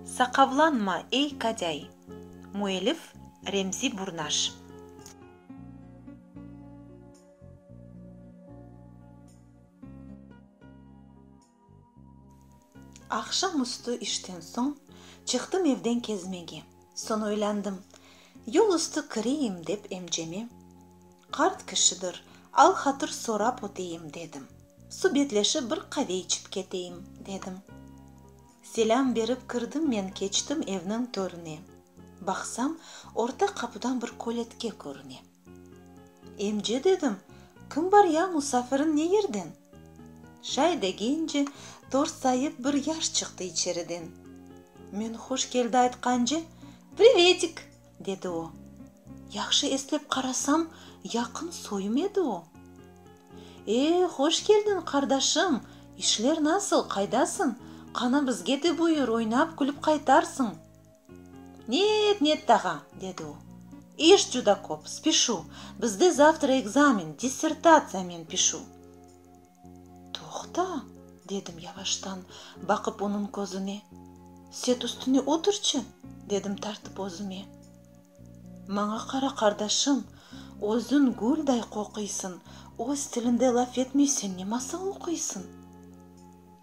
Saqavlanma, ey Kadây! Müellif, Remzi Burnaş. Aqşam üstü işten soñ çıqtım evden kezmege. Soñ oylandım, yol üstü kireyim dep emceme, qart kişidir, al-hatır sorap öteyim, dedim. Subetleşip bir qave içip keteyim, dedim. Selâm berip kirdim men keçtim evniñ törüne. Baqsam, orta qapudan bir köletke körüne. Emce dedim, kim bar ya, musafirin ne yerden? Şay degence, torsayıp bir yaş çıqtı içeriden. Men huş keldi aytqance, Privetik! dedi o. Yahşı eslep qarasam, yaqın soyum edi o. E, hoş keldin, qardaşım! İşler nasıl, qaydasın? Qana bizge de buyur, oynap, külip qaytarsıñ! Net, net dağa, dedi o. İş cuda köp, spişu. Bizde zavtra ekzamen, dissertatsiyamen pişu. Toqta, dedim yavaştan, baqıp onıñ közüne. Set üstüne oturçı, dedim tartıp özüme. Maña qara, qardaşım, özüñ gülday qoquysıñ, öz tilinde laf etmeysen, nemasıñ oquysıñ?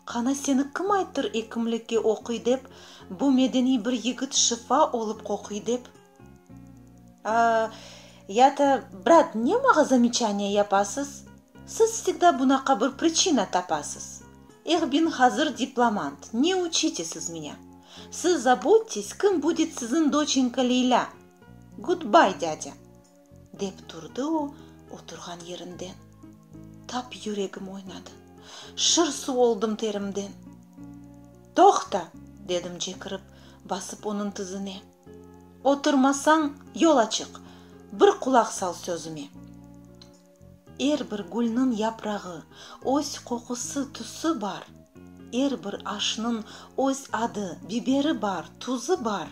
Qana seni kim ayttır ekimlikke oquy dep, bu medeniy bir yigit şifa olıp qoquy dep? A, ya ta, brat, ne mağa zamechaniya yapasız? Siz vsegda bunaqa bir pričina tapasız. Eh, bin hazır diplomant, ne uçite siz minya? Siz zabudtes, kim budet sizin doçenka Leylâ. Gudbay, dâdâ. Dep turdı o oturğan yerinden. Tap yüregim oynadı. Şır suv oldım terimden. Toqta! dedim cekirip, basıp onıñ tizine. Oturmasañ, yol açıq! Bir qulaq sal sözüme! Er bir gülniñ yaprağı, öz qoqusı, tüsü bar, Er bir aşnıñ öz adı, biberi bar, tuzı bar,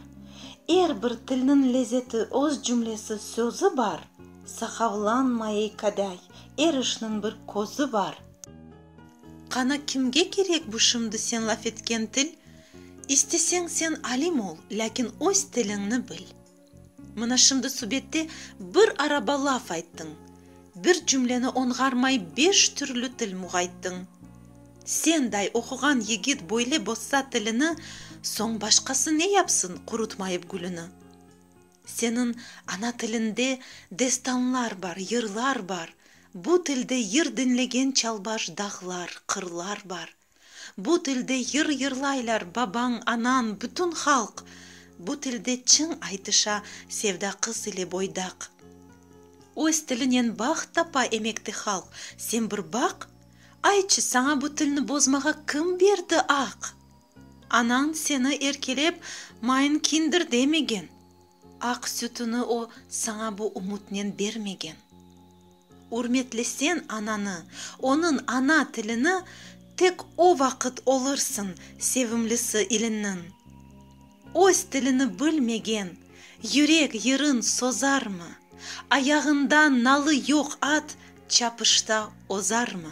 Er bir tilniñ lezzeti, öz cümlesi, sözü bar, Sahavlanma, ey kadây, er işniñ bir közü bar. Qana kimge kerek bu şimdi sen laf etken til? İsteseñ sen alim ol, lâkin öz tiliñni bil. Mına şimdi subette bir araba laf ayttıñ, bir cümleni oñğarmay beş türlü til muğayttıñ. Senday oquğan yigit böyle bozsa tilini, soñ başqası ne yapsın qurutmayıp gülüni? Seniñ ana tiliñde destanlar bar, yırlar bar, bu tilde yır diñlegen çalbaş dağlar, qırlar bar. Bu tilde yır yırlaylar babañ, anañ, bütün halq. Bu tilde çıñ aytışa sevda qız ile boydaq. Öz tilinen baht tapa emekte halq, sen bir baq! Aytçı, saña bu tilni bozmağa kim berdi aq? Anañ seni erkelep, mayın kindir demegen. Aq sütüni o saña bu ümütnen bermegen. Ürmetlesen ananı, onıñ ana tilini, tek o vaqıt olursıñ sevimlisi iliñniñ. Öz tilini bilmegen, yürek yırın sozarmı? Ayağında nalı yoq at çapışta ozarmı?